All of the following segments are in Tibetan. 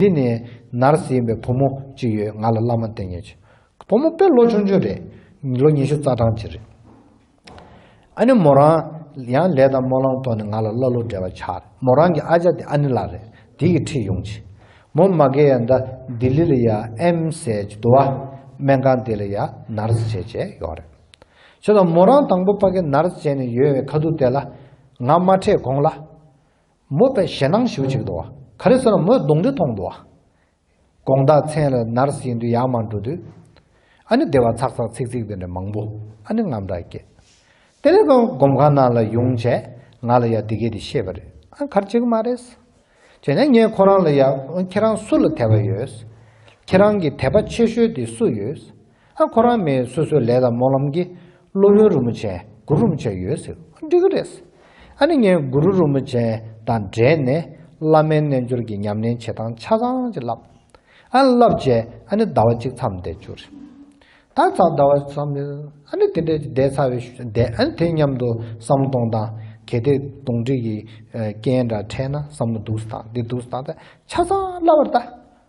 འདི་ནས་ནར་སོན་པའི་བུ་མོ་གཅིག་ཡོད་ང་ལ་བླ་མ་བསྟེན་ཉེ་ཆེ། བུ་མོ་དཔེ་ལོ་ཆུང་ཆུང་རེད། ལོ་ཉི་ཤུ་རྩ་གྲངས་ཅིག་རེད། ཨ་ནེ་མོ་རང་ཡང་ལས་དང་སྨོན་ལམ་ཐོག་ནས་ང་ལ་ཀླ་ཀློ་འདྲེ་བ་ཆགས་རེད་མོ་རང་གི་ཨ་ཅག་དེ་ཨ་ནེ་ལགས་རེད་དེ་ཡིས་ཁྲིད་ཡོང་ཆེ། མོ་མ་གེ་ཡ་འདྲ་ལྡི་ལི་ལ་ཡ་ཨེམ་སའི་ཇི་དུ་བ་སྨན་ཁང་དེ་ལ་ཡ་ནར་སི་བྱས་བྱས་ཡོད་རེད། བྱས་ཙང་མོ་རང་དང་པོ་པ་གེ་ནར་སི་བྱས་ནས་ཡོད་བའི་ཁ་ཐུག་དེ་ལ་ང་མ་ཁྲེད་གོང་ལ། མོས་པའི་ཞེད་སྣང་ཞུ་བྱེད་དུ་བ། ག་རེ་ཟེར་ན་མོས་གདུང་འདྲེ་མཐོང་དུ་བ། དགོངས་དག་མཚན་ལ་ནར་སྲིད་འདུལ་ཡང་མང་འགྲོ་དུས། ཨ་ནི་བདེ་བ་ཚག་ཚག་ཚིག་ཚིག་དེ་འདྲ་མང་པོ་ཨ་ནི་རྔམ་སྐྲག་སྐྱེས། དེ་ལས་ཀྱང་སྒོམ་ཁང་ནང་ལ་ཡོང་བྱས་ང་ལ་ཡང་འདི་སྐད་དུ་བཤད་པ་རེད་ཨང་གར་བྱེད་ཀྱི་མ་རེད། བྱས་ན་ངས་ཁོ་རང་ལ་ཡང་ཁྱེད་རང་སུ་ལ་དད་པ་ཡོད། ཁྱེད་རང་གི་དད་པ་ཆེ་ཤོས་དེ་སུ་ཡོད། ཨ་ཁོ་རང་མི་སོ་སོའི་ལས་དང་སྨོན་ལམ་གྱིས་སློབ་དཔོན་རིན་པོ་ཆེ་གུ་རུ་རིན་པོ་ཆེ་ཡོད་ཟེར་ཨ་འགྲིག་གི་རེད་ཟེར་ཨ་ནི་ངས་གུ་རུ་རིན་པོ་ཆེ་དང་འབྲེལ་ནས་བླ་མའི་རྣལ་འབྱོར་གྱི་ཉམས་ལེན་བྱེད་སྟངས་ཆ་ཚང་ཅིག་བསླབས་ཨ་བསླབས་རྗེས་ཨ་ནི་ཟླ་བ་གཅིག་མཚམས་བསྡད་བཅུག་རེད་ད་ད་ཟླ་བ་གཅིག་མཚམས་བསྡད་ཨ་ནི་དེ་འདྲའི་བསྡད་ཚར་བའི་ཞུ་བསྡད་ཨ་ནི་དེ་མཉམ་དུ་བསམ་བློ་གཏོང་སྟངས་གལ་ཏེ་གདོང་དྲི་གི་རྐྱེན་འདྲ་འཕྲད་ན་བསམ་བློ་སྡུག་སུ་བཏང་འདི་སྡུག་སུ་བཏང་ད་ཆ་ཚང་བསླབས་པར་གདའ་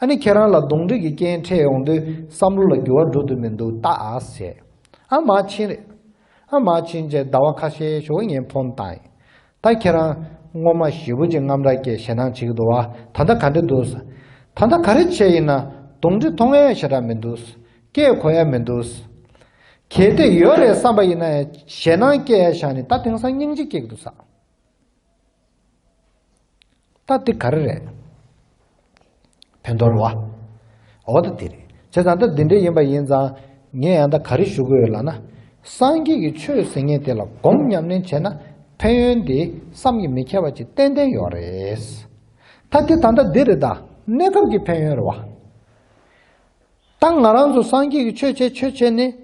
ཨ་ནི་ཁྱེད་རང་ལ་གདོང་འདྲེ་གི་རྐྱེན་འཕྲད་ཡོང་དུས་བསམ་བློ་ལ་འགྱུར་བ་འགྲོ་དུས་མི་འདུག་ལྟ་ཨཱས་བྱས། ཨ་མ་ཕྱིན་རེད། ཨ་མ་ཕྱིན་རྗེས་ཟླ་བ་ཁ་ཤས་ཞོགས་ངས་ཕོན་བཏང་ཡིན། ད་ཁྱེད་རང། སྔོན་མ་བཞི་བོ་ཅིག་རྔམ་རག་གེ་ཞེ་སྣང་བྱེད་ཀྱི་འདུག་ཨ་ད་ལྟ་ག་འདྲེ་འདུག། ད་ལྟ་ག་རེ་བྱས་ཡིན་ན་གདོང་འདྲེ་མཐོང་ཡ་ཞེ་དྲག་མི་འདུག། སྐད་གོ་ཡ་མི་འདུག། གལ་ཏེ་ཡོད་རེད་བསམ་པ་ཡིན་ན་ཞེ་སྣང་སྐྱེ་ཡ་བཞག་ནས་ད་དེང་སང་སྙིང་རྗེ་སྐྱེ་གི་འདུག། ད་འདི་ག་རེ་རེད། བོད་མདོ་རུ་བ། འོ་ད་འདི་རེད། བྱས་ཙང་ད་འདི་འདྲ་ཡིན་པ་ཡིན་ཙང་ངས་ཡང་ད་ག་རེ་ཞུ་གི་ཡོད་ལགས་ན། སངས་རྒྱས་ཀྱི་ཆོས་ཟེར་ངེས་དེ་ལ་སྒོམ་ཉམས་ལེན་བྱས་ན་ཕན་ཡོན་དེ་བསམ་གྱིས་མི་ཁྱབ་པ་ཅིག་ཏན་ཏན་ཡོད་རེད། ད་འདི་ད་ལྟ་འདི་རེད་ད་གནས་སྐབས་ཀྱི་ཕན་ཡོན་རེད་བ། ད་ང་རང་ཚོ་སངས་རྒྱས་ཀྱི་ཆོས་བྱས་ཆོས་བྱས་ནས་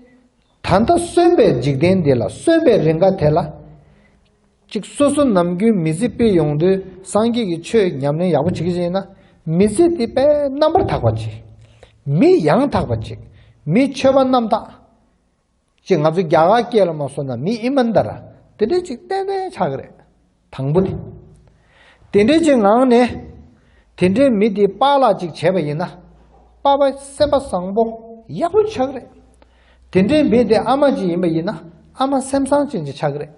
ད་ལྟ་གསོན་པའི་འཇིག་རྟེན་འདི་ལ་གསོན་པའི་རེ་འགའ་དེ་ལ། གཅིག་སོ་སོ་ནམ་རྒྱུན་མི་ཚེ་སྤེལ་ཡོང་དུས་སངས་རྒྱས་ཀྱི་ཆོས་ཉམས་ལེན་ཡག་པོ་བྱེད་ཀྱི་ཡིན་ན། མི་ཚེ་འདི་དཔལ་རྣམ་པར་དག་པ་ཅིག། མི་ཡང་དག་པ་ཅིག། མི་ཆོས་པ་རྣམ་དག་ཅིག་ང་ཚོ་རྒྱ་གར་སྐད་ལ་མ་སོ་ན་མི་ཨི་མ་འདར་ར་དེ་འདྲ་ཅིག་ཏན་ཏན་ཆགས་ཀྱི་རེད། དང་པོ་ནི། དེ་འདྲའི་ཆེད་འང་ནས། དེ་འདྲའི་མི་དེའི་པཱ་ལགས་གཅིག་བྱས་པ་ཡིན་ན། པཱ་པ་སེམས་པ་བཟང་པོ་ཡག་པོ་ཆགས་རེད། དེ་འདྲའི་མི་དེ་ཨ་མ་གཅིག་ཡིན་པ་ཡིན་ན་ཨ་མ་སེམས་བཟང་ཅན་གཅིག་ཆགས་རེད།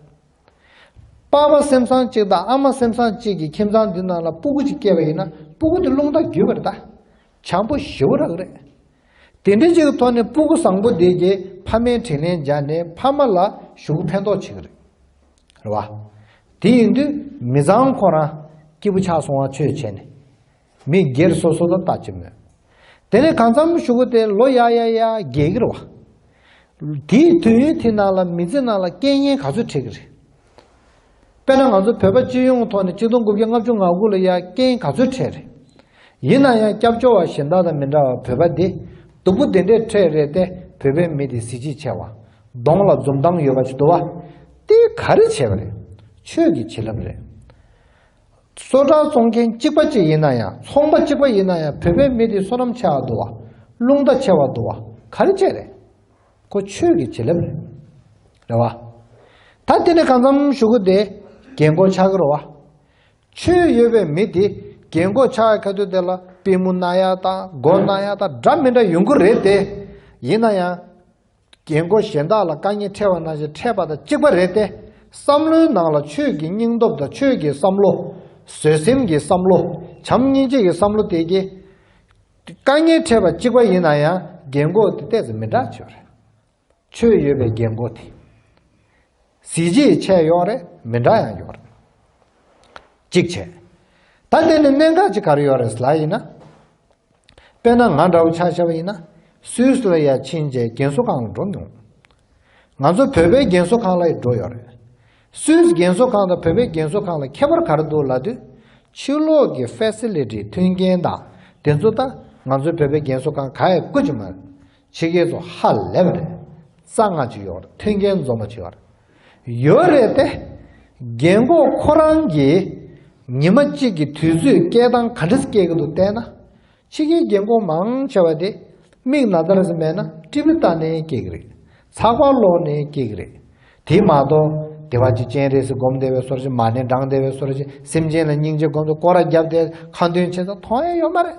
པཱ་པ་སེམས་བཟང་གཅིག་དང་ཨ་མ་སེམས་བཟང་གཅིག་གི་ཁྱིམ་ཚང་འདི་ནང་ལ་སྤུ་གུ་གཅིག་སྐྱེས་པ་ཡིན་ན་སྤུ་གུ་དེ་རླུང་རྟ་བརྒྱུད་པར་གདའ། བྱང་བུ་ཞི་བོ་རག་རེད། དེ་འདྲའི་གཅིག་གི་ཐོག་ནས་སྤུ་གུ་བཟང་པོ་དེ་གྱིས་ཕ་མའི་དྲིན་ལན་སྦྱར་ནས་ཕ་མ་ལ་ཞུགས་ཕན་ཐོགས་བྱེད་ཀྱི་རེད། རེད་བ། དེ་ཡིན་དུས་མི་བཟང་ཁོ་རང་སྐྱིད་པོ་ཆགས་སོང་བ་ཆོས་བྱས་ནས། མི་སྒེར་སོ་སོ་ལ་ལྟ་ཅི་སྨོས། དེ་ནས་གང་འཚམ་ཞུ་གི་དེ་ལོ་ཡག་ཡག་ཡག་རྒྱས་ཀྱི་རེད་བ། དེའི་དུས་ཡུན་དེ་ནང་ལ་མི་ཚེ་ནང་ལ་རྐྱེན་ངན་ག་ཚོད་འཕྲད་ཀྱི་རེད། དཔེར་ན་ང་ཚོ་བོད་པ་སྤྱི་ཡོངས་ཐོག་ནས་གཅིག་སྟོང་དགུ་བརྒྱ་ལྔ་བཅུ་ང་དགུ་ལ་ཡ་རྐྱེན་ག་ཚོད་འཕྲད་རེད། ཡིན་ན་ཡང་སྐྱབས་བཅོལ་བ་གཞན་དག་དང་མི་འདྲ་བར་བོད་པ་འདི་སྡུག་པོ་དེ་འདྲའི་ཁྲེས་རེད་ཏེ་བོད་པའི་མི་དེ་གཟི་བརྗིད་ཆེ་བ། གདོང་ལ་འཛུམ་མདངས་ཡོད་པ་ཅིག་འདུག་བ། དེ་ག་རེ་བྱས་པ་རེད། ཆོས་ཀྱི་བྱིན་རླབས་རེད། བསོད་གྲགས་བཙོང་མཁན་གཅིག་པ་གཅིག་ཡིན་ན་ཡང་ཚོང་པ་གཅིག་པ་ཡིན་ན་ཡང་བོད་པའི་མི་དེ་བསོད་ནམས་ཆེ་བ་འདུག་བ། རླུང་རྟ་ཆེ་བ་འདུག་བ་ག་རེ་བྱས་རེད། ཁོ་ཆོས་ཀྱི་བྱིན་རླབས་རེད། རེད་བ། ད་དེ་ནས་གང་འཚམ་ཞུ་གི་དེ་རྒྱལ་མགོ་ཆག་གི་རོ་བ། ཆོས་ཡོད་པའི་མི་དེ་རྒན་མགོ་ཆག་གི་ཁ་ཐུག་དེ་ལ་པི་མུ་ན་ཡ་དང་གོ་ན་ཡ་དང་འདྲ་མི་འདྲ་ཡོང་གི་རེད་དེ། ཡིན་ན་ཡང། རྒན་མགོ་གཞན་དག་ལ་དཀའ་ཉེ་འཕྲད་བ་ན་བཞིན་འཕྲད་པ་དང་གཅིག་པ་རེད་དེ། བསམ་བློའི་ནང་ལ་ཆོས་ཀྱི་སྙིང་སྟོབས་དང་ཆོས་ཀྱི་བསམ་བློ། བཟོད་སེམས་ཀྱི་བསམ་བློ། བྱམས་སྙིང་རྗེ་ཡི་བསམ་བློ་དེ་གྱིས། དཀའ་ཉེ་འཕྲད་པ་གཅིག་པ་ཡིན་ན་ཡང་རྒན་མགོ་དེ་ལྟས་ཙམ་མི་འདྲ་ཆེ་བ་རེད། ཆོས་ཡོད་པའི་རྒྱལ་མགོ་དེ། གཟི་བརྗིད་ཆས་གཡོག་རེད་མི་འདྲ་ཡང་ཡོད་རེད། གཅིག་བྱས། ད་དེ་ནི་གནད་འགག་ཅིག་གར་ཡོད་རེད་ལ་ཡིན་ན། དཔེར་ན་ང་འདྲ་བོ་ཆགས་ཞབས་ཡིན་ན་སུའི་སུ་ལ་ཡ་ཕྱིན་རྗེས་རྒན་གསོ་ཁང་ལ་འགྲོ་མྱོང། ང་ཚོ་བོད་པའི་རྒན་གསོ་ཁང་ལ་ཡི་འགྲོ་ཡོད་རེད། སུའི་རྒན་གསོ་ཁང་དང་བོད་པའི་རྒན་གསོ་ཁང་ལ་ཁྱད་པར་གར་འདུག་ལ་དུས་ཕྱིས་ལོག་གི་ཧྥེ་སི་ལི་ཏི་མཐུན་རྐྱེན་དང་དེ་ཚོ་དང་ང་ཚོའི་བོད་པའི་རྒན་གསོ་ཁང་ག་ཡི་ཀུ་ཅི་མ་རེད། ཕྱི་རྒྱལ་དུ་ཧ་ལས་པ་རེད། རྩ་སྔགས་ཅི་ཡོད་མཐུན་རྐྱེན་འཛོམས་པ་ཅི་ཡོད་རེད། ཡོད་རེད་དེ། རྒན་གོག་ཁོ་རང་གིས་ཉི་མ་གཅིག་གི་དུས་ཚོད་སྐྱེལ་སྟངས་ག་འདྲ་སྐྱེལ་གི་འདུག་བལྟས་ན། ཕྱི་རྒྱལ་རྒན་གོག་མང་ཆེ་བ་དེ་མིག་ན་ཚ་རེ་ཟ་མེད་ན་ཀྲི་བི་བཏགས་ནས་སྐྱེལ་གི་རེད། ཚགས་པར་ཀློག་ནས་སྐྱེལ་གི་རེད། དེ་མ་གཏོགས་དེ་བ་ཅི་སྤྱན་རས་གཟིགས་སྒོམ་བདེ་བའི་སོར་བཞི་མ་ནས་འབྲང་བདེ་བའི་སོར་བཞི་སེམས་ཅན་ལ་སྙིང་རྗེ་སྒོམ་དུ་སྐོར་ར་བརྒྱབ་སྟེ་ཁ་འདོན་བྱེད་ས་མཐོང་ཡ་ཡོད་མ་རེད།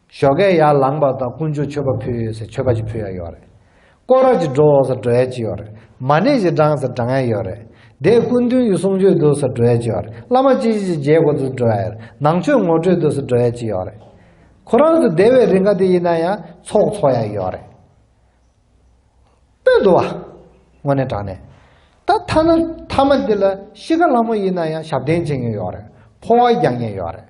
ཞོ་གས་ཡར་ལངས་པ་དང་ཀུན་སྤྱོད་མཆོད་པ་ཕུལ་ཡོད་ཟེར་མཆོད་པ་ཅིག་ཕུལ་ཡ་ཡོད་རེད། ཀོ་ར་ཅིག་འགྲོ་འོང་ཟེར་འགྲོ་ཡ་ཅིག་ཡོད་རེད། མ་ཎི་ཞིག་བགྲང་ཟེར་བགྲང་ཡ་ཡོད་རེད། དེས་སྐུ་མདུན་གྱི་གསུང་ཆོས་འདུག་ཟེར་འགྲོ་ཡ་ཅིག་ཡོད་རེད། བླ་མ་ཅི་ཞིག་ཅིག་མཇལ་དགོས་འདུག་འགྲོ་ཡ་ཡོད་རེད། ནང་ཆོས་ངོ་སྤྲོད་འདུག་ཟེར་འགྲོ་ཡ་ཅིག་ཡོད་རེད། ཁོ་རང་ཚོ་སྡེ་བའི་རིགས་འགའ་དེ་ཡིན་ན་ཡང་ཚོགས་འཚོགས་ཡ་ཡོད་རེད། སྤོས་འདུག་བ། དངོས་གནས་དྲང་གནས། ད་ཐ་ན་མཐའ་མ་འདི་ལ་གཤིས་ཀ་ལྷ་མོ་ཡིན་ན་ཡང་ཞབས་བརྟན་བྱེད་མཁན་ཡོད་རེད། ཕོ་བ་རྒྱག་མཁན་ཡོད་རེད།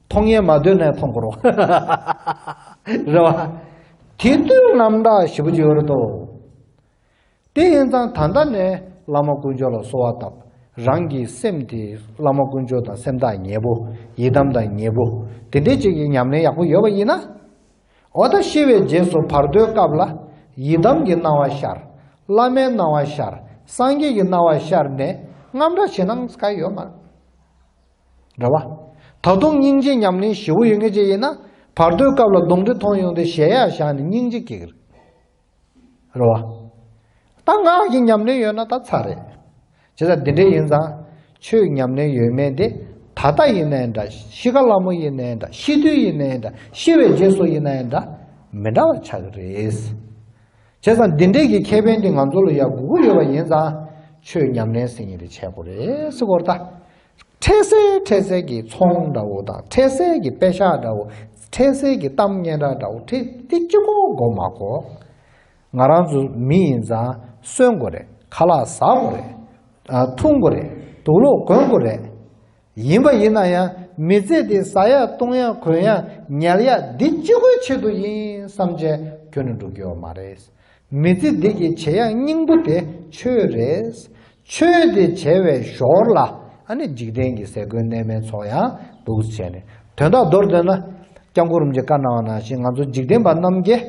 མཐོང་ཡས་མ་འདོད་ནས་མཐོང་འཁོར་བ། རེད་བ། དེ་དུས་རྣམ་དག་བཞི་པོ་འབྱོར་ཏོ། དེ་ཡིན་ཙང་ད་ལྟ་ནས་བླ་མ་དཀོན་མཆོག་ལ་གསོལ་བ་བཏབ། རང་གི་སེམས་དེ་བླ་མ་དཀོན་མཆོག་དང་སེམས་ཐག་ཉེ་བོ། ཡི་དམ་དང་ཉེ་བོ། དེ་འདྲའི་ཅིག་གི་ཉམས་ལེན་ཡག་པོ་ཡོད་པ་ཡིན་ན། འོ་ད་ཤི་བའི་རྗེས་སུ་བར་དོའི་སྐབས་ལ། ཡི་དམ་གྱི་སྣང་བ་ཤར། བླ་མའི་སྣང་བ་ཤར། སངས་རྒྱས་ཀྱི་སྣང་བ་ཤར་ནས་རྔམ་སྒྲ་བྱེད་སྣང་ག་ཡོད་མ། འདྲ་བ། ད་དུང་སྙིང་རྗེ་ཉམས་ལེན་བཞི་བོ་ཡོད་ངེས་ཅན་ཡིན་ན། བར་དོའི་སྐབས་ལ་གདོང་དྲི་མཐོང་ཡོང་དུས་གཞལ་ཡས་བཞག་ནས་སྙིང་རྗེ་སྐྱེ་གི་རེད། རེད་བ། ད་ངག་གི་ཉམས་ལེན་ཡོད་ན་ད་ཚར་རེད། བྱས་ཙང་དེ་འདྲས་ཡིན་ཙང། ཆོས་ཉམས་ལེན་ཡོད་མེད་དེ། ད་ལྟ་ཡིན་ནའི་འདྲ། ཤི་ཀ་ལ་མོ་ཡིན་ནའི་འདྲ་ཤི་དུས་ཡིན་ནའི་འདྲ་ཤི་བའི་རྗེས་སུ་ཡིན་ནའི་འདྲ། མི་འདྲ་བ་ཆགས་ཀྱི་རེད། བྱས་ཙང་འདི་འདྲས་ཀྱི་ཁེ་ཕན་དེ་ང་ཚོ་ལ་ཡག་གུ་གུ་ཡོད་པ་ཡིན་ཙང། ཆོས་ཉམས་ལེན་ཟེར་ཉིན་རེ་བྱས་དགོས་རེད་སེ་གོ་ད། འཕྲལ་སེལ་འཕྲལ་སེལ་གྱི་ཚོང་འདྲ་བོ་དང་འཕྲལ་སེལ་གྱི་དཔེ་ཤག་འདྲ་བོ། འཕྲལ་སེལ་གྱི་གཏམ་སྙན་གྲགས་འདྲ་བོ་དེ་དེ་གཅིག་པོ་འགོ་མ་གོ། ང་རང་ཚོ་མི་ཡིན་ཙང་གསོན་དགོས་རེད་ཁ་ལག་ཟ་དགོས་རེད། འཐུང་དགོས་རེད་དུག་ལོག་གོན་དགོས་རེད། ཡིན་པ་ཡིན་ན་ཡང་མི་ཚེ་འདི་ཟ་ཡག་བཏུང་ཡག་གོན་ཡག་ཉལ་ཡག་འདི་ཅི་ཁོའི་ཆེད་དུ་ཡིན་བསམ་བྱས་ཁྱོན་ནས་འགྲོ་རྒྱུ་མ་རེད། མི་ཚེ་འདི་གི་བྱེད་ཡག་སྙིང་པོ་དེ་ཆོས་རེད། ཆོས་དེ་བྱས་བའི་ཞོར་ལ་ཨ་ནི་འཇིག་རྟེན་གྱི་ཟས་གོས་གནས་མལ་ཚོགས་ཡང་འདུག་བྱས་ནས་དོན་དག་མདོར་བསྡུས་ན། སྐྱབས་འཁོར་རིམ་གྱིས་བཀའ་གནང་བ་ནང་བཞིན་ང་ཚོ་འཇིག་རྟེན་པ་རྣམས་ཀྱིས།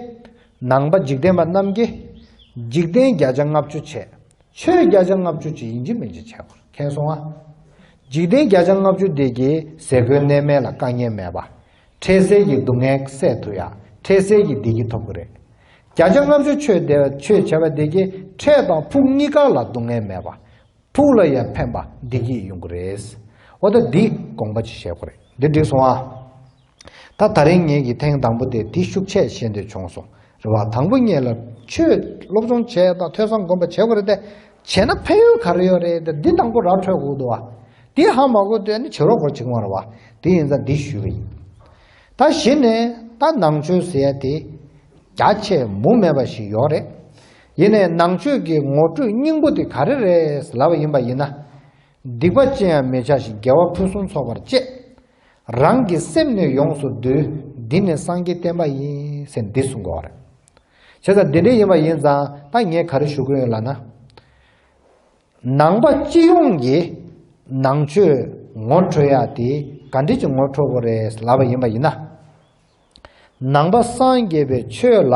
ནང་པ་འཇིག་རྟེན་པ་རྣམས་ཀྱིས། འཇིག་རྟེན་བརྒྱ་ཆ་ལྔ་བཅུ་ཆེད་ཆོས་བརྒྱ་ཆ་ལྔ་བཅུ་གཅིག་ཡིན་གྱི་མིན་གྱི་ཁྱད་པར་མཁྱེན་སོང་ཨ། འཇིག་རྟེན་བརྒྱ་ཆ་ལྔ་བཅུ་འདས་ཀྱི་ཟས་གོས་གནས་མལ་ལ་དཀའ་ངལ་མེད་པ། འཕྲལ་སེལ་གྱི་སྡུག་བསྔལ་བསལ་ཐུབ་ཡང་འཕྲལ་སེལ་གྱི་བདེ་སྐྱིད་ཐོབ་གི་རེད། བརྒྱ་ཆ་ལྔ་བཅུ་ཆོས་བདེ་ཆོས་བྱ་བ་འདས་ཀྱི་འཕྲལ་དང་ཕུགས་གཉིས་ཀ་ལ་སྡུག་བསྔལ་མེད་པ། ཕུགས་ལ་ཡང་ཕན་པ་བདེ་སྐྱིད་ཡོང་གི་རེད། འོ་ད་འདིས་དགོངས་པ་ཅི་བཞེས་དགོས་རེད་འདི་འགྲིག་སོང་ཨ། ད་ད་རིང་ངེད་ཀྱི་ཐེངས་དང་པོ་དེ་དེ་ཤུགས་ཆད་བཞིན་དུ་བྱུང་སོང་རེད་བ་དང་པོ་ངེད་ལ་ཆོས་སློབ་སྦྱོང་བྱས་དང་ཐོས་བསམ་སྒོམ་པ་བྱེད་དགོས་རེད་དེ་བྱས་ན་ཕན་ཡོན་ག་རེ་ཡོད་རེད་དེ་འདི་དང་པོ་ར་འཕྲོད་དགོས་འདུག་བ་དེ་ཧ་མ་གོ་དེ་ནི་བྱེད་རོགས་སྐོར་བྱེད་ཁོམ་རེད་བ་དེ་ཡིན་ཙང་འདི་ཞུས་པ་ཡིན། ད་གཞི་ནས་ད་ནང་ཆོས་ཟེར་ཡ་དེ་རྒྱ་ཆེ་མུ་མེད་པ་ཞིག་ཡོད་རེད། ཡིན་ནས་ནང་ཆོས་ཀྱི་ངོ་སྤྲོད་སྙིང་པོ་དེ་ག་རེ་རེད་ལབ་པ་ཡིན་པ་ཡིན་ན། སྡིག་པ་ཅི་ཡང་མི་བྱ་ཞིང་དགེ་བ་ཕུན་སུམ་ཚོགས་པར་སྤྱད། རང་གི་སེམས་ནི་ཡོངས་སུ་བསྡུ། འདི་ནི་སངས་རྒྱས་བསྟན་པ་ཡིན། ཟེར་འདི་གསུངས་དགོས་བ་རེད། བྱས་ཙང་འདི་འདྲ་ཡིན་པ་ཡིན་ཙང་ད་ངས་ག་རེ་ཞུ་དགོས་ཡོད་ལ་ན། ནང་པ་སྤྱི་ཡོངས་ཀྱི་ནང་ཆོས་ངོ་འཕྲོད་ཡག་དེ་ག་འདྲི་ཅིག་ངོ་འཕྲོད་དགོས་རེད་ལབ་པ་ཡིན་པ་ཡིན་ན། ནང་པ་སངས་རྒྱས་པའི་ཆོས་ལ།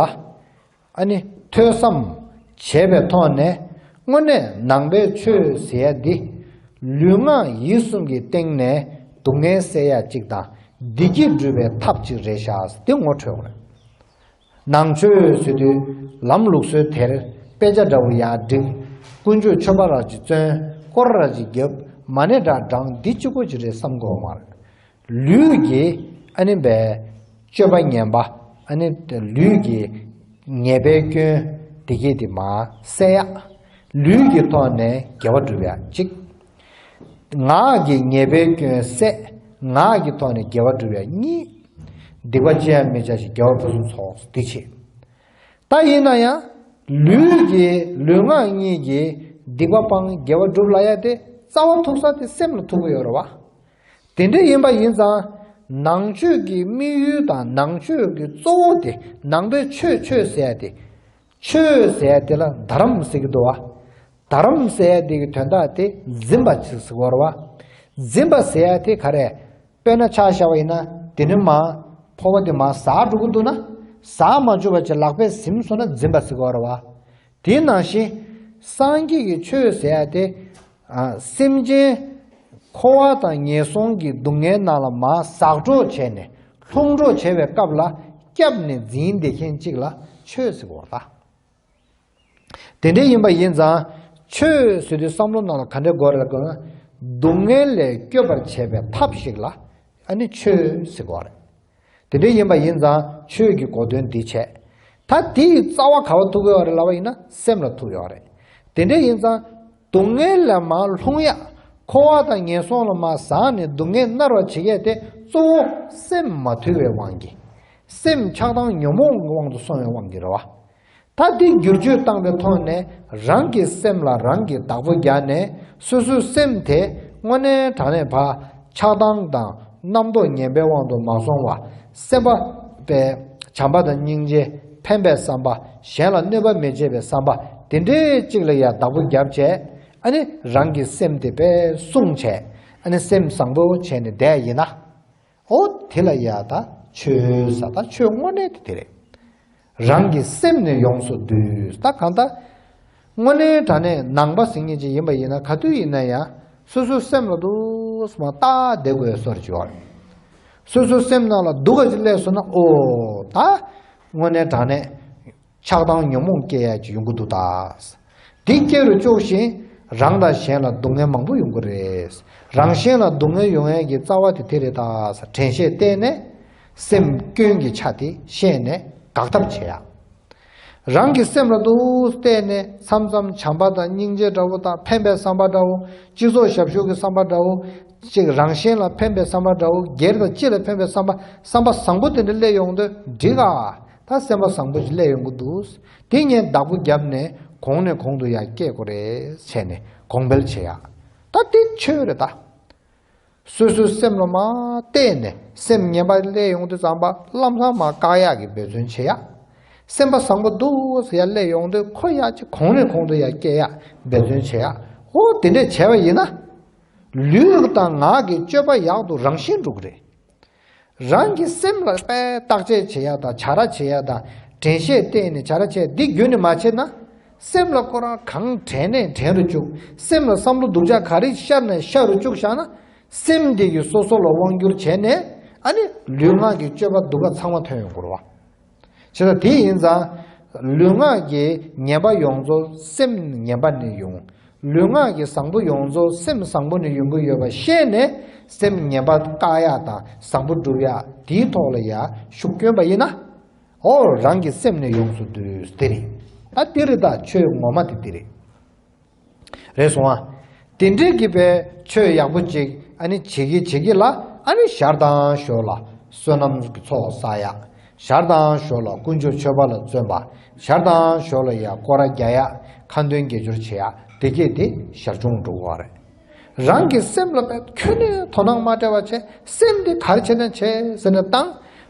ཨ་ནི་ཐོས་བསམ་བྱས་པའི་ཐོག་ནས་དངོས་གནས་ནང་པའི་ཆོས་ཟེར་ཡ་འདི་ལུས་ངག་ཡིད་གསུམ་གྱི་སྟེང་ནས་སྡུག་བསྔལ་སེལ་ཡ་གཅིག་དང་བདེ་སྐྱིད་སྒྲུབ་པའི་ཐབས་གཅིག་རེད་ཤག་འདི་ངོ་འཕྲོད་དགོས། ནང་ཆོས་ཟེར་དུས་ལམ་ལུགས་སྲོལ་དེར་དཔེ་ཆ་འདྲ་བོ་ཡག་བསྒྲིགས་དཀོན་མཆོག་ཆོས་པ་ར་ཅིག་བཙོན་སྐོར་ར་ཅིག་བརྒྱབ་མ་ནས་དྲ་གྲངས་འདི་ཅི་གོ་ཅི་རེད་བསམ་དགོས་མ་རེད། ལུས་ཀྱི་ཨ་ནི་བའི་སྤྱོད་པ་ངན་པ་ཨ་ནི་ལུས་ཀྱི་ཉེས་པའི་སྐྱོན་བདེ་སྐྱིད་དེ་མ་བསལ་ཡ། ལུས་ཀྱི་ཐོག་ནས་དགེ་བ་བསྒྲུབ་ཡ་གཅིག། ངག་གི་ཉེས་པའི་སྐྱོན་བསལ་ངག་གི་ཐོག་ནས་དགེ་བ་བསྒྲུབ་ཡ་གཉིས། སྡིག་པ་ཅི་ཡང་མི་བྱ་ཞིང་དགེ་བ་ཕུན་སུམ་ཚོགས་སུ་འདི་བྱེད། ད་ཡིན་ན་ཡང་ལུས་ཀྱི་ལུས་ངག་གཉིས་ཀྱི་སྡིག་པ་སྤང་དགེ་བ་བསྒྲུབ་སླ་ཡ་དེ་རྩ་བ་ཐུག་ས་དེ་སེམས་ལ་ཐུག་གི་ཡོད་རེད་བ། དེ་འདྲ་ཡིན་པ་ཡིན་ཙང། ནང་ཆོས་ཀྱི་དམིགས་ཡུལ་དང་ནང་ཆོས་ཀྱི་གཙོ་བོ་དེ་ནང་པའི་ཆོས་མཆོད་ཟས་ཏེ། མཆོད་ཟས་དེ་ལ་དར་རམ་ཟིག་གི་འདུ་བ། དར་རམ་ཟས་དེ་གི་དོན་དག་དེ་འཛིན་པ་ཟིག་གི་བོར་བ། འཛིན་པ་ཟས་དེ་ག་རེ། དཔེར་ན་ཕྱག་བཞག་པ་ཡིན་ན་དེ་ནི་མ། ཕོ་བ་དེ་མ་ཟག་དྲུག་གི་འདུ་ན། ཟག་མ་བཅུ་བ་ཅི་ལག་པས་ཟིམ་སོང་ན་འཛིན་པ་ཟིག་གི་བོར་བ། དེ་ནང་བཞིན། སངས་རྒྱས་ཀྱི་ཆོས་ཟད་དེ། སེམས་ཅན། འཁོར་བ་དང་ངན་སོང་གི་སྡུག་བསྔལ་རྣམས་ལ་མ་ཟག་སྒྲོག་བྱས་ནས་ལྷུང་སྒྲོག་བྱེད་པའི་སྐབས་ལ་སྐྱབས་ནས་འཛིན་བདེ་མཁན་གཅིག་ལ་ཆོས་ཟེར་བ་ལ། དེ་འདྲ་ཡིན་པ་ཡིན་ཙང། ཆོས་ཟེར་དུས་བསམ་བློ་རྣམས་ལ་ག་འདྲའི་གོ་རེ་བསྐོན། སྡུག་བསྔལ་ལས་སྐྱོབ་པར་བྱེད་པའི་ཐབས་ཤིག་ལ་ཨ་ནི་ཆོས་ཟེར་བ་རེད། དེ་འདྲའི་ཡིན་པ་ཡིན་ཙང་ཆོས་ཀྱི་གོ་དོན་འདི་བྱས། ད་དེ་ཡི་རྩ་བ་ག་བ་ཐུག་ཡོད་རེད་ལབ་པ་ཡིན་ན་སེམས་ལ་ཐུག་ཡོད་རེད། དེ་འདྲའི་ཡིན་ཙང་སྡུག་བསྔལ་ལས་མང་ལྷུང་ཡག་འཁོར་བ་དང་ངན་སོང་ལ་མ་བཟང་ནས་སྡུག་བསྔལ་མནར་བར་བྱེད་མཁན་དེ་གཙོ་བོ་སེམས་མ་ཐུལ་བའི་དབང་གིས། སེམས་ཆགས་སྡང་ཉོན་མོངས་ཀྱི་དབང་དུ་སོང་བའི་དབང་གིས་རེད་བ། ད་ལྟའི་བསྒྱུར་བཅོས་བཏང་པའི་ཐོག་ནས་རང་གི་སེམས་ལ་རང་གིས་བདག་པོ་རྒྱག་ནས་སོ་སོའི་སེམས་དེ་དངོས་གནས་དྲང་གནས་བག་ཆགས་སྡང་དང་རྣམ་རྟོག་ངན་པའི་དབང་དུ་མ་སོང་བར་སེམས་དཔའ་བའི་བྱམས་པ་དང་སྙིང་རྗེ་ཕན་པའི་བསམ་པ་གཞན་ལ་གནོད་པ་མི་བྱེད་པའི་བསམ་པ་དེ་འདྲའི་གཅིག་ལ་ཡང་བདག་པོ་རྒྱབ་བྱས་ནས་རང་གི་སེམས་དེ་བེད་སྲུང་བྱས་ནས་སེམས་བཟང་པོ་བྱས་ནས་བསྡད་ཡིན་ན། ཨོ་དེ་ལ་ཡ་ད་ཆོས་ཟ་ད་ཆོས་དངོས་གནས་དེ་དེ་རེད། རང་གི་སེམས་ནི་ཡོངས་སུ་བསྡུས་ད་གང་ད། དངོས་གནས་དྲ་གནས་ནང་པ་ཟིང་ངེ་ཅིག་ཡིན་པ་ཡིན་ན་ག་དུས་ཡིན་ན་ཡང་སོ་སོའི་སེམས་ལ་དུ་སུ་མ་བལྟ་བསྡད་དགོས་གསོར་བྱེད་པ་རེད། སོ་སོའི་སེམས་ནང་ལ་སྡུག་ག་ཅིག་སླེབས་སོང་ན་ཨོ་ད། དངོས་གནས་དྲ་གནས་ཆགས་སྡང་ཉོན་མོངས་བསྐྱེད་ཡ་གྱི་ཡོང་གི་འདུག་ད། འདི་སྐྱེ་རུ་བཅུག་བཞིན་རང་དང་གཞན་ལ་སྡུག་བསྔལ་མང་པོ་ཡོང་གི་རེད། རང་གཞན་ལ་སྡུག་བསྔལ་ཡོང་ཡ་གྱི་རྩ་བ་དེ་དེ་རེད་ད། དྲན་ཤེས་བརྟན་ནས། སེམས་སྐྱོན་གྱི་ཆ་དེ་ཤེས་ནས་དགག་ཐབས་བྱེད་ཡ། རང་གི་སེམས་ལ་དུ་བལྟས་ནས་མཚམས་མཚམས་བྱམས་པ་དང་སྙིང་རྗེ་འདྲ་བོ་དང་ཕན་པའི་བསམ་པ་འདྲ་བོ། སྤྱི་ཚོགས་ཞབས་ཞུ་གི་བསམ་པ་འདྲ་བོ། ཅིག་རང་གཞན་ལ་ཕན་པའི་བསམ་པ་འདྲ་བོ་སྒེར་དང་སྤྱི་ལ་ཕན་པའི་བསམ་པ་བསམ་པ་བཟང་པོ་དེ་འདྲ་སླེབས་ཡོང་དུས་འགྲིག་ག། ད་སེམས་པ་བཟང་པོ་ཞིག་སླེབས་ཡོང་གི་འདུག་དེ་ངས་བདག་པོ་བརྒྱབ་ནས་གོང་ནས་གོང་དུ་ཡར་བསྐྱེད་དགོས་རེད་བྱས་ནས་གོང་འཕེལ་བྱེད་ཡག་ད་དེ་ཆོས་རེད་ད། སོ་སོའི་སེམས་ལ་མ་བལྟས་ནས་སེམས་ངན་པ་སླེབས་ཡོང་དུས་ཙམ་པ་ལམ་སང་མ་བཀག་ཡག་གི་འབད་བརྩོན་བྱེད་ཡག་སེམས་པ་བཟང་པོ་འདུག་ཡར་སླེབས་ཡོང་དུས་ཁོ་ཡག་ཅིག་གོང་ནས་གོང་དུ་ཡར་བསྐྱེད་ཡག་འབད་བརྩོན་བྱེད་ཡག་ཧོ་དེ་འདྲས་བྱས་པ་ཡིན་ན། ལུས་དང་ངག་གི་སྤྱོད་པ་ཡག་ཏུ་རང་བཞིན་འགྲོ་གི་རེད། རང་གི་སེམས་ལ་པས་བརྟག་དཔྱད་བྱེད་ཡག་དང་བྱ་ར་བྱེད་ཡག་དང་དྲན་ཤེས་བརྟེན་ནས་བྱ་ར་བྱས་འདི་རྒྱུན་ནས་མ་བྱས་ན། སེམས་ལ་བསྐོར་བ་གང་དྲན་ནས་དྲན་རུ་བཅུག་སེམས་ལ་བསམ་བློ་སྡུག་ཅག་ག་རིགས་ཤར་ནས་ཤར་རུ་བཅུག་བཞག་ན། སེམས་དེ་ཡིས་སོ་སོ་ལ་དབང་བསྒྱུར་བྱས་ནས་ཨ་ནི་ལུས་ངག་གི་སྤྱོད་པ་སྡུག་ཁ་ཚང་མ་ཐོན་ཡོང་སྐོར་བ། ཇི་ལྟར་དེ་ཡིན་ཙང། ལུས་ངག་གི་ངན་པ་ཡོངས་རྫོགས་སེམས་ངན་པ་ནི་ཡོང། ལུས་ངག་གི་བཟང་པོ་ཡོངས་རྫོགས་སེམས་བཟང་པོ་ནི་ཡོང་གི་ཡོད་པ་ཤེས་ནས་སེམས་ངན་པ་བཀག་ཡག་དང་བཟང་པོ་སྒྲུབ་ཡག་དེའི་ཐོག་ལ་ཡར་ཤུགས་བསྐྱོན་པ་ཡིན་ན། ཨོ་རང་གི་སེམས་ནི་ཡོངས་སུ་དུས་དེ་རེད། ད་དེ་རེད་ད་ཆོས་ངོ་མ་དེ་དེ་རེད། རེད་སོང་ཨ། དེ་འདྲའི་གི་པའི་ཆོས་ཡག་པོ་ཅིག་ཨ་ནི་བྱེད་གི་བྱེད་གི་ལ་ཨ་ནི་ཞར་དང་ཞོར་ལ་བསོད་ནམས་གི་ཚོགས་བསགས་ཡག་ཞར་དང་ཞོར་ལ་དཀོན་མཆོག་མཆོད་པ་ལ་བརྩོན་པ་ཞར་དང་ཞོར་ལ་ཡག་སྐོར་ར་རྒྱག་ཡག་ཁ་འདོན་དགེ་སྦྱོར་བྱེད་ཡག་བདེ་སྐྱིད་དེ་ཞར་བྱུང་འགྲོ་གི་བ་རེད། རང་གི་སེམས་ལ་མེད་ཁྱོད་ནི་དོ་སྣང་མ་བྲལ་བ་བྱས་སེམས་དེ་གར་བྱེད་ན་བྱས་ཟེར་ན་བཏང་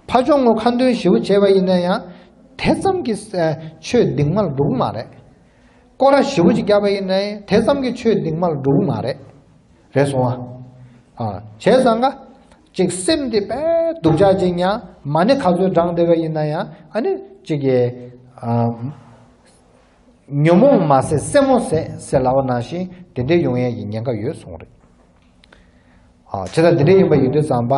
ཕ་ཆོག་ངོ་ཁ་འདོན་ཞིབ་བོ་བྱས་བ་ཡིན་ན་ཡང་དེ་ཙམ་གི་ཆོས་སྡིག་མ་ལ་འགྲོ་གི་མ་རེད། སྐོར་ར་བཞི་བོ་ཅིག་བརྒྱབ་པ་ཡིན་ནའི་དེ་ཙམ་གྱི་ཆོས་སྡིག་མ་ལ་འགྲོ་གི་མ་རེད། རེད་སོང་ཨ། བྱས་ཙང་ཀ། ཅིག་སེམས་དེ་པས་སྡུག་ཅག་ཅིག་མྱ་མ་ནི་ག་ཚོད་བགྲང་བདེ་བ་ཡིན་ན་ཡང་ཨ་ནི་ཅིག་གི། ཉོན་མོངས་མ་ཟད་སེན་མོ་ཟད་སེ་ལ་བ་ན་བཞིན་དེ་འདྲའི་ཡོང་ཡས་ཀྱི་ཉེན་ཁ་ཡོད་སོང་རེད། བྱས་ཙང་དེ་འདྲའི་ཡིན་པ་ཡིན་དུས་ཙང་པ་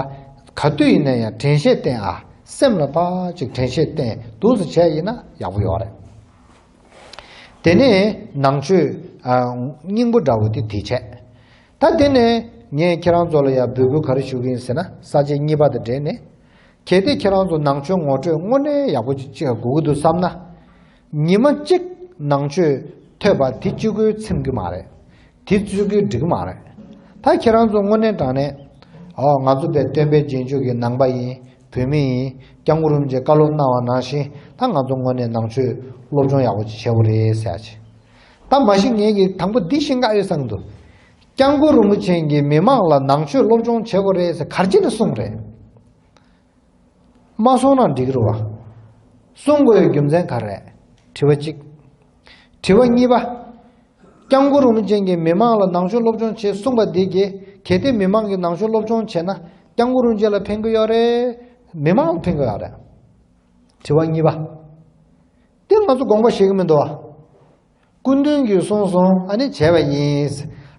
ག་དུས་ཡིན་ན་ཡང་དྲན་ཤེས་བརྟེན་ཨ་སེམས་ལ་པ་ཅིག་དྲན་ཤེས་བརྟེན་དུས་སུ་བྱས་ཡིན་ན་ཡག་པོ་ཡོད་རེད། དེ་ནས་ནང་ཆོས། སྙིང་པོ་འདྲ་བོ་དེ་དེ་བྱས། ད་དེ་ནས་ངས་ཁྱེད་རང་ཚོ་ལ་ཡང་འབོད་སྐུལ་ག་རེ་ཞུ་གི་ཡིན་ཟེར་ན་ས་བཅད་གཉིས་པ་དང་འབྲེལ་ནས། གལ་ཏེ་ཁྱེད་རང་ཚོ་ནང་ཆོས་ངོ་སྤྲོད་དངོས་གནས་ཡག་པོ་ཅིག་དགོས་ཀྱི་འདུག་བསམ་ན། ཉི་མ་གཅིག་ནང་ཆོས་ཐོས་པ་དེ་ཅི་དགོས་ཚིམ་གྱི་མ་རེད། དེ་བཙུད་དགོས་འགྲིག་མ་རེད། ད་ཁྱེད་རང་ཚོ་དངོས་གནས་དྲང་གནས། ཨོ་ང་ཚོ་པའི་སྟོན་པའི་རྗེས་འཇུག་གི་ནང་པ་ཡིན་བོད་མི་ཡིན་སྐྱབས་མགོན་རིན་པོ་ཆེ་བཀའ་སློབ་གནང་བ་ནང་བཞིན་ད་ང་ཚོ་དངོས་གནས་ནང་ཆོས་སློབ་སྦྱོང་ཡག་པོ་བྱེད་ཆེ་བོ་རེད་ཟེར་ཡ་ཆེད། ད་མ་གཞི་ངེད་ཀྱིས་དང་པོ་འདི་ཤེས་འགའ་ཡོད་བསམ་འདུག་སྐྱབས་མགོན་རིན་པོ་ཆེན་གྱིས་མི་མང་ལ་ནང་ཆོས་སློབ་སྦྱོང་བྱེད་དགོས་རེད་ཟེར་གར་ཅི་ནས་གསུངས་རེད། མ་གསུངས་ན་འགྲིག་རུ་བ། གསུང་དགོས་རྒྱུ་མཚན་ག་རེད། དྲི་བ་གཅིག། དྲི་བ་གཉིས་པ། སྐྱབས་མགོ་རུ་མི་ཅན་གྱིས་མི་མང་ལ་ནང་ཆོས་སློབ་སྦྱོང་བྱེད་གསུངས་པ་འདི་གྱིས་གལ་ཏེ་མི་མང་གིས་ནང་ཆོས་སློབ་སྦྱོང་བྱེད་ན་སྐྱབས་མགོ་རུ་མཇལ་ལ་ཕན་གི་ཡོད་རེད། མི་མང་ལ་ཕན་གི་ཡོད་རེད། དྲི་བ་གཉིས་པ། འདི་ང་ཚོ་དགོངས་པ་བཞེས་གི་མི་འདུག་བ། སྐུ་མདུན་གྱིས་གསུངས་སོང་ཨ་ནི་བྱས་པ་ཡིན།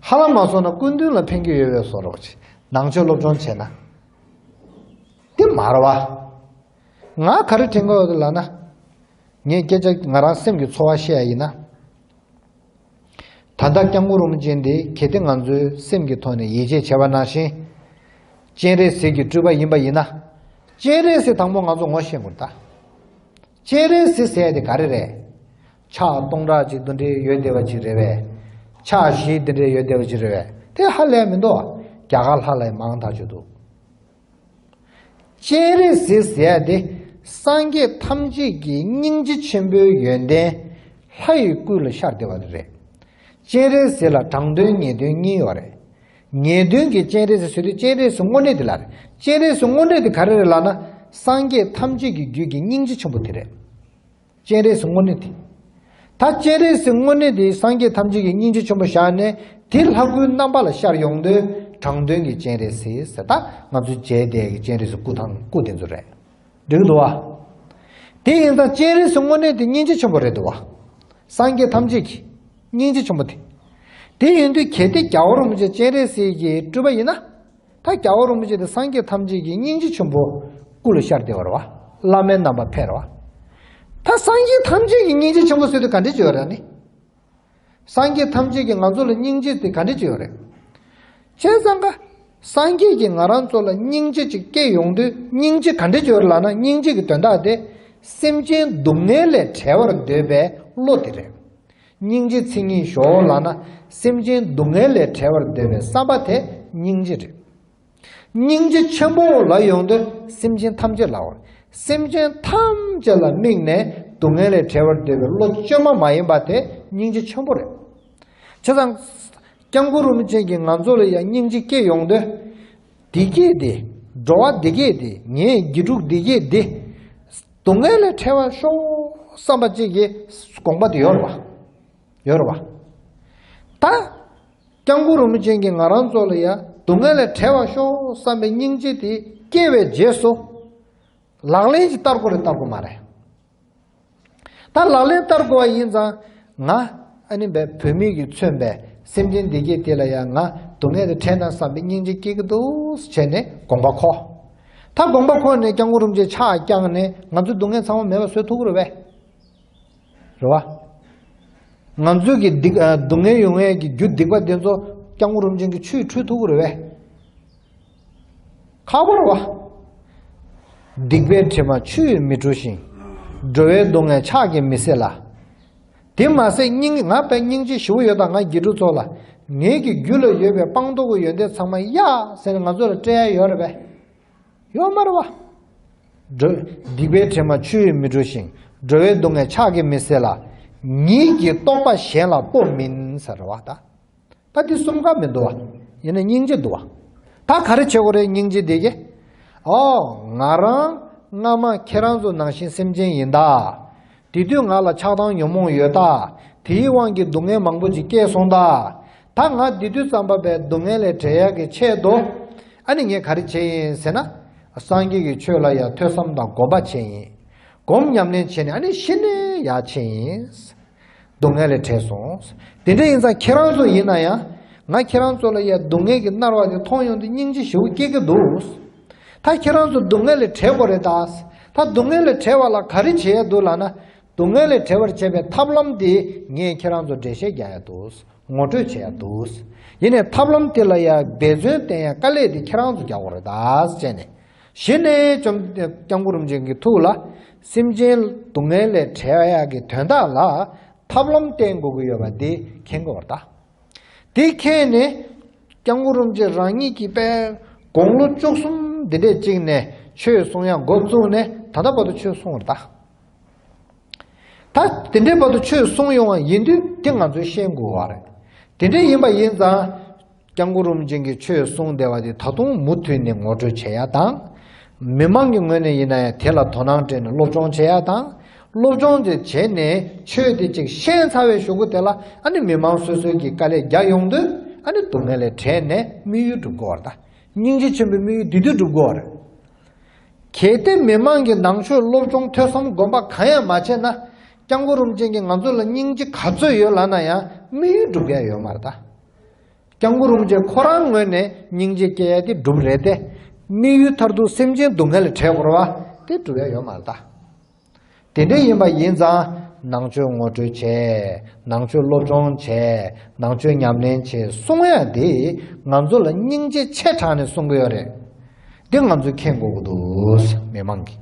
ཧ་ལམ་མ་སོང་ན་སྐུ་མདུན་ལ་ཕན་རྒྱུ་ཡོད་བས་སོ་རོགས། ནང་ཆོས་སློབ་སྦྱོང་བྱས་ན། འདི་མར་བ། ང་ག་རེ་དྲན་གི་ལགས་ན། ངས་སྐད་ཆ་ང་རང་སེམས་ཀྱི་ཚོར་བ་བཤད་ཡ་ཡིན་ན། ད་ལྟ་སྐྱབས་མགོན་རོང་པོ་ཅན་འདི་གལ་ཏེ་ང་ཚོའི་སེམས་ཀྱི་ཐོག་ནས་ཡིད་ཆེས་བྱེད་པ་ནང་བཞིན། སྤྱན་རས་གཟིགས་ཀྱི་སྤྲུལ་པ་ཡིན་པ་ཡིན་ན། སྤྱན་རས་གཟིགས་དང་པོ་ང་ཚོ་ངོ་ཤེས་དགོས་ལ། སྤྱན་རས་གཟིགས་ཟེར་ཡ་དེ་ག་རེ་རེད། ཕྱག་སྟོང་ཕྲག་གཅིག་ཏུ་འདྲེ་ཡོད་བདེ་བ་གཅིག་རེད་བས། ཕྱག་བཞི་འདི་འདྲེ་ཡོད་བདེ་བ་གཅིག་རེད་བས་དེ་ཧ་ལས་མི་འདུག་བརྒྱ་ག་ལྷག་ལས་མང་དག་ཆོད་འདུག། སྤྱན་རས་གཟིགས་ཟེར་ཡ་དེ་སངས་རྒྱས་ཐམས་ཅད་ཀྱི་སྙིང་རྗེ་ཆེན་པོའི་ཡོན་ཏན་ལྷ་ཡི་སྐུ་ལ་ཤར་བདེ་བ་རེད། སྤྱན་རས་གཟིགས་ལ་དྲང་དོན་ངེས་དོན་གཉིས་ཡོད་རེད། ངེས་དོན་གྱི་སྤྱན་རས་གཟིགས་ཟེར་དུས་སྤྱན་རས་གཟིགས་དངོས་གནས་དེ་ལ་རེད། སྤྱན་རས་གཟིགས་དངོས་གནས་དེ་ག་རེ་རེད་ལགས་ན། སངས་རྒྱས་ཐམས་ཅད་ཀྱི་རྒྱུད་ཀྱི་སྙིང་རྗེ་ཆེན་པོ་དེ་རེད། སྤྱན་རས་སུ་བསྔོ་ནི་དེ། ད་སྤྱན་རས་སུ་བསྔོ་ནི་དེ་སངས་རྒྱས་ཐམས་ཅད་ཀྱི་སྙིང་རྗེ་ཆེན་པོ་བཞག་ནས་དེ་ལྷ་སྐུའི་རྣམ་པ་ལ་ཤར་ཡོང་དུས་དྲང་དོན་གྱི་སྤྱན་རས་གཟིགས་ཟེར་ད་ང་ཚོའི་རྗེས་འདེད་ཀྱི་སྤྱན་རས་སུ་སྐུ་དང་སྐུ་དེ་ཚོ་རེད། འགྲིག་འདུག་བ། དེ་ཡིན་ཙང་སྤྱན་རས་སུ་བསྔོ་ནི་དེ་སྙིང་རྗེ་ཆེན་པོ་རེད་འདུག་བ། སངས་རྒྱས་ཐམས་ཅད་ཀྱི་སྙིང་རྗེ་ཆེན་པོ་དེ། དེ་ཡིན་དུས་གལ་ཏེ་རྒྱ་གོར་མོ་ཆེ་སྤྱན་རས་གཟིགས་ཀྱི་སྤྲུལ་པ་ཡིན་ན། ད་རྒྱ་བ་རིན་པོ་ཆེ་དེ་སངས་རྒྱས་ཐམས་ཅད་ཀྱི་སྙིང་རྗེ་ཆེན་པོ་སྐུ་ལ་ཤར་བདེ་བར་བ་བླ་མའི་རྣམ་པ་འཕེལ་བ། ད་སངས་རྒྱས་ཐམས་ཅད་ཀྱི་སྙིང་རྗེ་ཆེན་པོ་ཟེར་དུས་ག་འདྲས་བྱེད་རོགས་ནི། སངས་རྒྱས་ཐམས་ཅད་ཀྱི་ང་ཚོ་ལ་སྙིང་རྗེ་དེ་ག་འདྲས་བྱེད་རོགས་རེད། བྱས་ཙང་ཀ། སངས་རྒྱས་ཀྱིས་ང་རང་ཚོ་ལ་སྙིང་རྗེ་ཅིག་སྐྱེ་ཡོང་དུས་སྙིང་རྗེ་ག་འདྲས་བྱེད་རོགས་ལགས་ན་སྙིང་རྗེ་ཀྱི་དོན་དག་དེ། སེམས་ཅན་སྡུག་བསྔལ་ལས་བྲལ་བར་འདོད་པའི་བློ་དེ་རེད། སྙིང་རྗེ་མཚན་ཉིད་ཞོའོ་ལགས་ན་སེམས་ཅན་སྡུག་བསྔལ་ལས་བྲལ་བར་འདོད་པའི་བསམ་པ་དེ་སྙིང་རྗེ་རེད། སྙིང་རྗེ་ཆེན་པོའོ་ལགས་ཡོང་དོན་སེམས་ཅན་ཐམས་ཅད་ལའོ། སེམས་ཅན་ཐམས་ཅད་ལ་དམིགས་ནས་སྡུག་བསྔལ་ལས་བྲལ་བར་འདོད་པའི་བློ་བཅོས་མ་མ་ཡིན་པ་དེ་སྙིང་རྗེ་ཆེན་པོ་རེད། བྱས་ཙང། སྐྱབས་མགོན་རུ་མི་ཅན་གྱི་ང་ཚོ་ལ་ཡང་སྙིང་རྗེ་སྐྱེ་ཡོང་དོན། འདི་སྐྱེས་ཏེ། འགྲོ་བ་འདི་སྐྱེས་ཏེ་ངས་དགེ་ཕྲུག་འདི་སྐྱེས་ཏེ། སྡུག་བསྔལ་ལས་ཁྲེལ་བར་ཤོག་བསམ་པ་གཅིག་གིས་དགོངས་པ་དེ་ཡོད་རེད་པ། ཡོད་རེད་པ། ད། སྐྱང་ཁུ་རུ་མི་ཅན་གྱི་ང་རང་ཚོ་ལ་ཡང་སྡུག་བསྔལ་ལས་ཁྲེལ་བར་ཤོག་བསམ་པའི་སྙིང་རྗེ་དེ་སྐྱེས་པའི་རྗེས་སུ། ལག་ལེན་གྱི་བསྟར་གོ་རེ་བསྟར་གོ་མ་རེད། ད་ལག་ལེན་བསྟར་དགོས་བ་ཡིན་ཙང་ང་ཨ་ནི་བས་བོད་མིག་གིས་མཚོན་པའི་སེམས་ཅན་བདེ་སྐྱིད་དེ་ལ་ཡང་ང་སྡུག་བསྔལ་དེ་ཕྲད་ན་བསམ་པའི་སྙིང་རྗེ་སྐྱེ་གི་འདུག་བྱས་ནས་དགོངས་པ་ཁོ། ད་དགོངས་པ་ཁོ་ནས་བསྐྱང་བསྐུར་རུམ་བཅས་ཕྱག་བསྐྱངས་ནས་ང་ཚོའི་སྡུག་བསྔལ་ཚང་བ་མེད་པ་བཟོས་ཐུག་རོ་བས། རེ་བ། ང་ཚོའི་གི་སྡིག་སྡུག་བསྔལ་ཡོང་བས་ཀྱི་རྒྱུ་སྡིག་པ་དེ་ཚོ་བསྐྱང་བསྐུར་རུམ་ཅན་གྱི་ཆུས་འཁྲུད་ཐུག་རོ་བས། ཁ་བོར་བ། སྡིག་པའི་དྲི་མ་ཆུ་ཡིས་མི་བཀྲུ་ཞིང། འགྲོ་བའི་སྡུག་བསྔལ་ཕྱག་གིས་མི་སེལ་ལ། དེ་མ་ཟད་སྙིང་ང་བས་སྙིང་རྗེ་ཞུ་བོ་ཡོད་དང་ང་དགེ་ཕྲུག་ཚོ་ལ། ངེད་ཀྱི་རྒྱུད་ལ་ཡོད་པའི་སྤངས་རྟོགས་ཀྱི་ཡོན་ཏན་ཚང་མ་ཡ། ཟེར་ནས་ང་ཚོ་ལ་སྤྲད་ཡ་ཡོད་རེད་པས། ཡོད་མ་རེད་བ། སྡིག་པའི་དྲི་མ་ཆུ་ཡིས་མི་བཀྲུ་ཞིང། འགྲོ་བའི་སྡུག་བསྔལ་ཕྱག་གིས་མི་སེལ་ལ། ཉིད་ཀྱི་རྟོགས་པ་གཞན་ལ་སྤོབས་མིན་ཟེར་བ་ད། པ་དེ་གསུམ་ཀ་མི་འདུ་བ། ཡེ་ནས་སྙིང་རྗེ་འདུ་བ། ད་ག་རེ་བྱེད་དགོས་རེད་སྙིང་རྗེ་འདི་ཀྱི། ཨོ། ང་རང། སྔ་མ་ཁྱེད་རང་ཚོ་ནང་བཞིན་སེམས་ཅན་ཡིན་ད། དེ་དུས་ང་ལ་ཆགས་སྡང་ཉོན་མོངས་ཡོད་ད། དེའི་དབང་གིས་སྡུག་བསྔལ་མང་པོ་ཅིག་སྐྱེས་སོང་ད། ད་ང་འདི་དུས་ཙམ་པ་བས་སྡུག་བསྔལ་ལས་བྲལ་ཡག་གི་ཆེད་དུ། ཨ་ནི་ངས་ག་རེ་བྱེད་ཡིན་ཟེར་ན། སངས་རྒྱས་ཀྱི་ཆོས་ལ་ཡང་ཐོས་བསམ་དང་སྒོམ་པ་བྱེད་ཡིན། སྒོམ་ཉམས་ལེན་བྱེད་ནས་ཨ་ནི་ཤི་ནས་ཡག་ཆེད་ཡིན། སྡུག་བསྔལ་ལས་བྲལ་སོང། དེ་འདྲ་ཡིན་ཙང་ཁྱེད་རང་ཚོ་ཡིན་ན་ཡང། ང་ཁྱེད་རང་ཚོ་ལ་ཡ་སྡུག་བསྔལ་གྱི་མནར་བ་དེ་མཐོང་ཡོང་དུས་སྙིང་རྗེ་ཞེ་བོ་སྐྱེ་གི་འདུག། ད་ཁྱེད་རང་ཚོ་སྡུག་བསྔལ་ལས་བྲལ་གོ་རེད་ད། ད་སྡུག་བསྔལ་ལས་བྲལ་བ་ལ་ག་རེ་བྱེད་ཡ་འདུག་ལགས་ན། སྡུག་བསྔལ་ལས་བྲལ་བར་བྱེད་པའི་ཐབས་ལམ་དེ་ངས་ཁྱེད་རང་ཚོར་འགྲེལ་བཤད་རྒྱག་ཡ་འདུག་ངོ་སྤྲོད་བྱེད་ཡ་འདུག། ཡིན་ནས་ཐབས་ལམ་དེ་ལ་ཡ་འབད་བརྩོན་བསྟེན་ཡ་དཀའ་ལས་དེ་ཁྱེད་རང་ཚོ་རྒྱག་གོ་རེད་ད་བྱས་ནས། བཞི་ནས་བཅོམ་ལྡན་གུ་རུ་མཆོག་གི་ཐུགས་ལ་སེམས་ཅན་སྡུག་བསྔལ་ལས་བྲལ་བ་ཡག་གི་དོན་དག་ལ་ཐབས་ལམ་བསྟེན་དགོས་ཀྱི་ཡོད་པ་འདི་མཁྱེན་དགོས་པར་གདའ། དེ་མཁྱེན་ནས ྋསྐྱབས་གུ་རུ་མཆོག་རང་ཉིད་ཀྱིས་དཔལ་དགུང་ལོ་བཅུ་གསུམ་འདི་འདྲའི་གཅིག་ནས་ཆོས་གསུང་ཡང་འགོ་བཙུགས་ནས་ད་ལྟ་བར་དུ་ཆོས་གསུང་བར་གདའ། ད་དེ་འདྲའི་བར་དུ་ཆོས་གསུང་ཡོང་བ་ཡིན་དུས་དེ་ང་ཚོས་ཤེས་དགོས་བ་རེད། དེ་འདྲ་ཡིན་པ་ཡིན་ཙང། སྐྱབས་མགོན་རིན་པོ་ཆེན་གྱི་ཆོས་གསུང་བདེ་བ་དེ་ད་དུང་མུ་མཐུད་ནས་ངོ་སྤྲོད་བྱེད་ཡ་དང། མི་མང་གི་ངོས་ནས་ཡིན་ན་ཡང་དེ་ལ་དོ་སྣང་སྤྲད་ནས་སློབ་སྦྱོང་བྱེད་ཡ་དང། སློབ་སྦྱོང་དེ་བྱེད་ནས་ཆོས་དེ་ཅིག་ཤེས་ཚར་བའི་ཞོག་ཁུ་དེ་ལ་ཨ་ནི་མི་མང་སོ་སོའི་གི་དཀའ་ལས་རྒྱག་ཡོང་དུས་ཨ་ནི་སྡུག་བསྔལ་ལས་བྲལ་ནས་དམིགས་ཡུལ་འགྲུབ་དགོས་བ་རེད། སྙིང་རྗེ་ཆེན་པོའི་དམིགས་ཡུལ་དེ་དུས་འགྲུབ་དགོས་བ་རེད། གལ་ཏེ་མི་མང་གི་ནང་ཆོས་སློབ་སྦྱོང་ཐོས་བསམ་སྒོམ་པ་གང་ཡང་མ་བྱས་ན། སྐྱབས་མགོན་རིན་པོ་ཆེན་གྱི་ང་ཚོ་ལ་སྙིང་རྗེ་ག་ཚོད་ཡོད་ལབ་ན་ཡང་དམིགས་ཡུལ་འགྲུབ་མཁན་ཡོད་མ་རེད། སྐྱབས་མགོན་རིན་པོ་ཆེ་ཁོ་རང་ངོས་ནས་སྙིང་རྗེ་སྐྱེ་ཡ་དེ་སྒྲུབ་རེད་དེ། དམིགས་ཡུལ་མཐར་ཐུག་སེམས་ཅན་སྡུག་བསྔལ་བྲལ་བོར་བ་དེ་སྒྲུབ་ཡ་ཡོད་མ་རེད་དཱ། དེ་འདྲ་ཡིན་པ་ཡིན་ཙང་ནང་ཆོས་ངོ་སྤྲོད་བྱས། ནང་ཆོས་སློབ་སྦྱོང་བྱས། ནང་ཆོས་ཉམས་ལེན་བྱས་གསུང་ཡ་དེ་ང་ཚོ་ལ་སྙིང་རྗེ་ཆེ་དྲགས་ནས་གསུང་གི་ཡོད་རེད། དེ་ང་ཚོས་མཁྱེན་དགོས་ཀྱི་འདུག་མི་མང་གིས།